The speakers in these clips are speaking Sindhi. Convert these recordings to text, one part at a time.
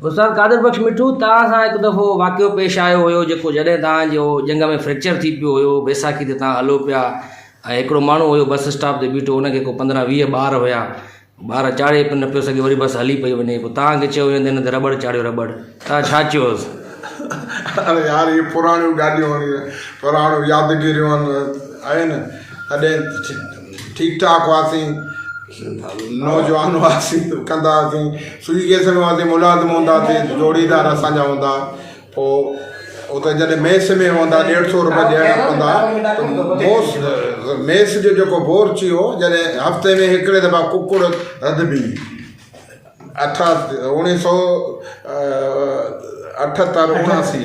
استاد قادر بخش مٺو توهان سان هڪ دفعو واقعو پيش آيو هيو جيڪو جڏهن توهان جو ڄنگهه ۾ فريڪچر ٿي پيو هيو بيساکي تي توهان هلو پيا ۽ هڪڙو ماڻهو هيو بس اسٽاپ تي بيٺو ان کي ڪو پندرهن ويهه ٻار هيا ٻار چاڙهي نه پيو سگهي وري بس هلي پئي وڃي پوء توهان کي چيو ويو ته هن تي رٻڙ چاڙهيو رٻڙ توهان ڇا چيو هيس؟ اڙي يار اهي پراڻيون ڳالهيون آهن پراڻيون يادگيريون آهن تڏهن ٺيڪ ٺاڪ هئاسين نوجوان هئاسين ڪندا هئاسين سوئي ڪيس ۾ هئاسين ملازم هوندا سي جوڙيدار اسانجا هوندا پو اتي جڏهن ميس ۾ هوندا ڏيڍ سو روپيا ڏيڻا پوندا بوس ميس جو جيڪو بورچ هو جڏهن هفتي ۾ هڪڙي دفعا ڪڪڙ رڌبي اٺا اوڻي سو اٺ تر اوڻاسي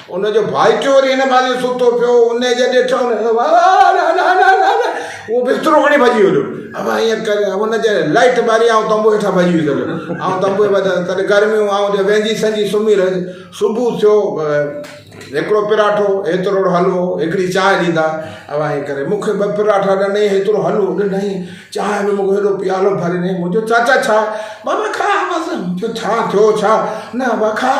ان جو ڀائٽيو وري هن ڀاڄي ستو پيو ان جي ڏٺ ان اهو بسترو کڻي ڀڄي ويو اب ائين ڪر ان جي لائٽ ٻاري آئون تنبو هيٺان ڀڄي ويو آئون تنبو تڏهن گرميون آئون جو ويندي سندي سمهي رهي صبح ٿيو هڪڙو پراٺو هيتروڙو حلوو هڪڙي چانهه ڏيندا اب ائين ڪري مونکي ٻه پراٺا ڏني هيترو حلوو ڏني چانهه به مونکي هيڏو پيالو ڀري ڏني مون چيو چاچا ڇا ماما کاء بس مون چيو ڇا ٿيو ڇا نه ابا کاء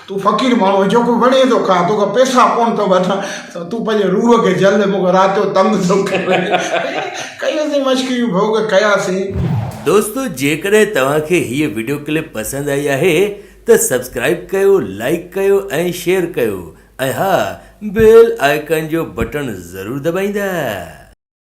تون فقير ماڻهو آهين جيڪو وڻي ٿو کان توکان پيسا ڪونه ٿو وٺان تون پنهنجي روح کي جل مونکي رات جو تنگ ٿو ڪرين ڪيوسين مشڪريون ڀوڳ ڪياسين. دوستو جيڪڏهن توهان کي هيء وڊيو ڪلپ پسند آئي آهي ته سبسڪرائب ڪيو لائيڪ ڪيو ۽ شيئر ڪيو ۽ ها بيل آئيڪان جو بٽڻ ضرور دٻائيندا.